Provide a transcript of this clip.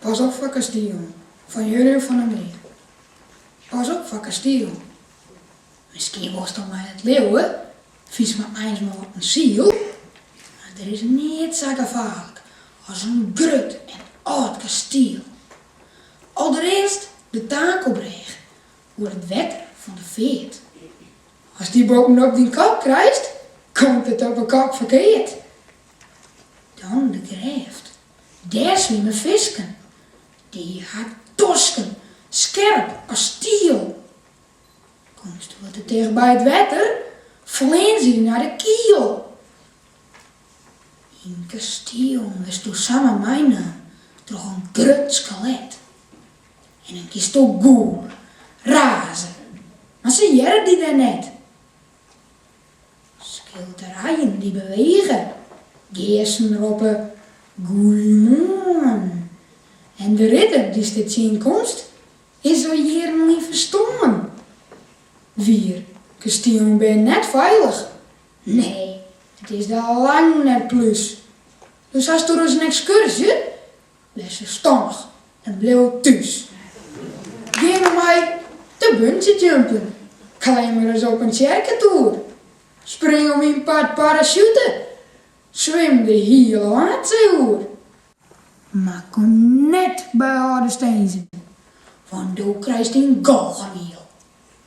Pas op foar kastielen fan Jurjen van der Meer. Pas op foar kastielen. Miskien wolsto my net leauwe, fynst my eins mar wat in siel, mar der is neat sa gefaarlik as in grut en âld kastiel. Alderearst de takelbrêge oer it wetter fan de feart. Ast dy boppenop dyn kop krijst, komt it op 'e kop ferkeard. Dan de grêft. Dêr swimme fisken, dy ha tosken skerp as stiel. Komst wat te ticht by it wetter, fleane se nei de kiel. Yn kastielen wurdsto samar meinomd troch in grut skelet. En dan kinsto gûle, raze, mar se hearre dy wer net. Skilderijen dy't bewege, geasten roppe goeiemoarn en de ridder dy'tsto tsjinkomst is al jierren lyn ferstoarn. Wier, kastielen binne net feilich, nee, it is der lang net plús. Dus hasto ris in ekskurzje, wês ferstannich en bliuw thús. Gean mar mei te bungyjumpen, klim mar ris op in tsjerketoer, spring om myn part parasjute, swim de hiele Waadsee oer. Mar kom net by âlde stinzen, want do krijst in galgemiel.